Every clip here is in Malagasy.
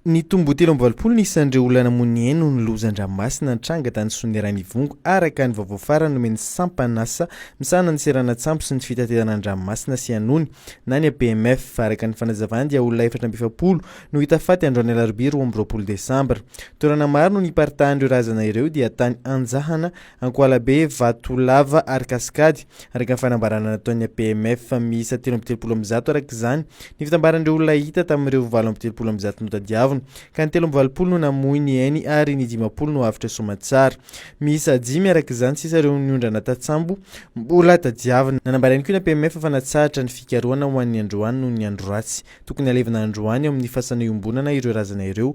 Nitombo telo amby valopolo ny isan'ireo olona namoy ny ainy noho ny lozan-dranomasina nitranga tany Soanierana-Ivongo, araka ny vaovao farany nomen'ny sampan'asa misahana ny seranan-tsambo sy ny fitaterana an-dranomasina sy anony na ny APMF. Araka ny fanazavany dia olona efatra amby efapolo no hita faty androany alarobia roa amby roapolo desambra. Toerana maro no niparitahan'ireo razana ireo dia tany Anjahana, Ankohalabe, Vatolava ary Kasikady, araka ny fanambarana nataon'ny APMF. Miisa telo amby telopolo amin'ny zato, araka izany, ny fitambaran'ireo olona hita tamin'ireo valo amby telopolo amin'ny zato notadiavina, ka ny telo amby valopolo no namoy ny ainy ary ny dimampolo no avotra soamantsara. Miisa dimy, araka izany, sisa ireo niondrana tatsambo mbola tadiavina. Nanambara ihany koa ny APMF fa natsahatra ny fikarohana ho an'ny androany noho ny andro ratsy. Tokony halevina androany ao amin'ny fasana iombonana ireo razana ireo,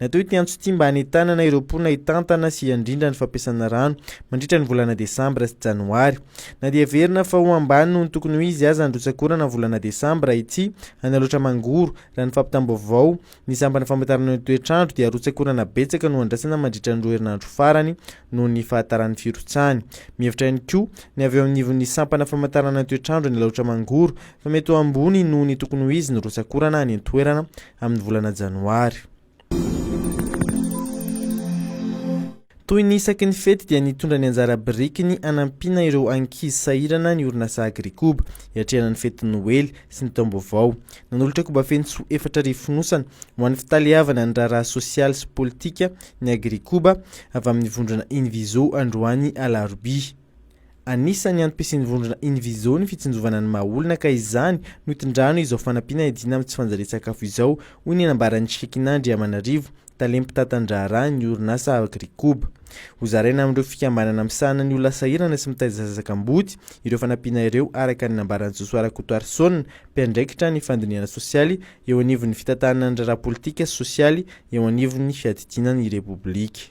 Natao ity antso ity mba hanentanana ireo mponina hitantana sy handrindra ny fampiasana rano mandritra ny volana desambra sy janoary. Na dia heverina fa ho ambany noho ny tokony ho izy aza ny rotsak'orana amin'ny volana desambra ity any Alaotra-Mangoro, raha ny fampitam-baovao, ny sampana famantarana ny toetr'andro dia rotsak'orana betsaka no andrasana mandritra ny roa herinandro farany noho ny fahataran'ny firotsahany. Mihevitra ihany koa ny avy eo anivon'ny sampana famantarana ny toetr'andro any Alaotra-Mangoro fa mety ho ambony noho ny tokony ho izy ny rotsak'orana any an-toerana amin'ny volana Janoary. Toy ny isaky ny fety dia nitondra ny anjara birikiny hanampiana ireo ankizy sahirana ny orinasa Agrikoba hiatrehana ny fetin'ny Noely sy ny taom-baovao. Nanolotra koba feno soa efatra arivo fonosana ho an'ny fitaleavana ny raharaha sosialy sy politika ny Agrikoba avy amin'ny vondrona Invizo androany alarobia. Anisan'ny antom-pisian'ny vondrona Invizo ny fitsinjovana ny maha olona ka izany no itondrany izao fanampiana hiadiana amin'ny tsy fanjarian-tsakafo izao, hoy ny nambaran'i Shekina Andriamanarivo, tale mpitantan-draharaha ny orinasa Agricoop. Hozaraina amin'ireo fikambanana misahana ny olona sahirana sy mitaiza zaza kamboty ireo fanampiana ireo araka ny nambaran'i Josoa Rakotoarison, mpiandraikitra ny fandinihana sosialy eo anivon'ny fitantanana ny raharaha politika sy sosialy eo anivon'ny fiadidiana ny Repoblika.